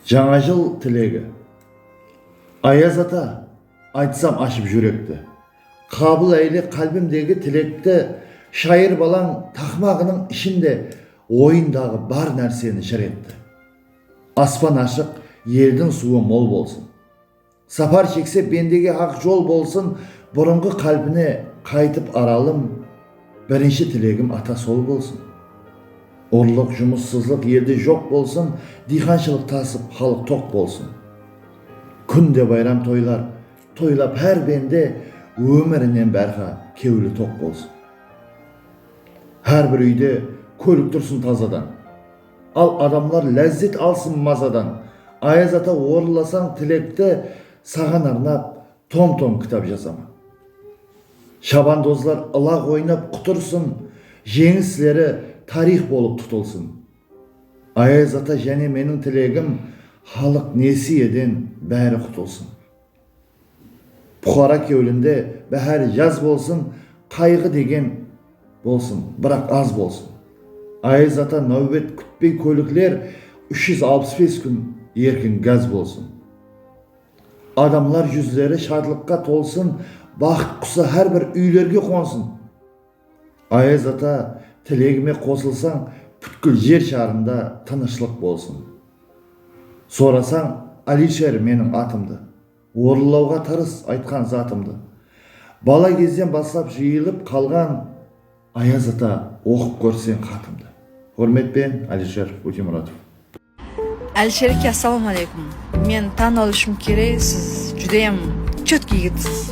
Jańa jıl tilegi Ayaz ata, aytsam ashıp júrekti, Qabıl eyle qálbimdegi tilekti, Shayır balań taqmaǵınıń ishinde Oyındaǵı bar nárseni jır etti. Aspan ashıq, eldiń suwı mol bolsın. Sapar shekse bendege aq jol bolsın burınǵı qálpine qaytıp Aralım birinshi tilegim ata sol bolsın urlıq jumıssızlıq elde joq bolsın diyxanshılıq tasıp xalıq toq bolsın kúnde bayram toylar toylap xár bende ómirinen bárxa kewli toq bolsın xár bir úyde kólik tursın tazadan Al adamlar lázzet alsın mazadan. Ayaz ata orınlasań tilekti saǵan arnap tom tom kitap jazaman. Shabandozlar ılaq oynap qutırsın, jeńisleri tariyx bolıp tutılsın. Ayaz ata jáne meniń tilegim xalıq nesiyeden bári qutılsın. Puqara kewlinde báhár yaz bolsın, Qayǵı degen bolsın, biraq az bolsın. Ayız ata náwbet kútpey kólikler úsh júz alpıs bes kún erkin gaz bolsın. Adamlar júzleri shadlıqqa tolsın, Baxıt qusı hár bir úylerge qonsın. Ayaz ata tilegime qosılsań pútkil jer sharında tınıshlıq bolsın sorasań Alisher meniń atımdı orınlauǵa tırıs aytqan zatımdı bala gezden baslap jıyılıp qalǵan Ayaz ata oqıp kórseń xatımdı Húrmetpen Alisher Ótemuratov. Alishereke assalauma aleykum men tan alishim kerek siz judayam chetký yigitsiz.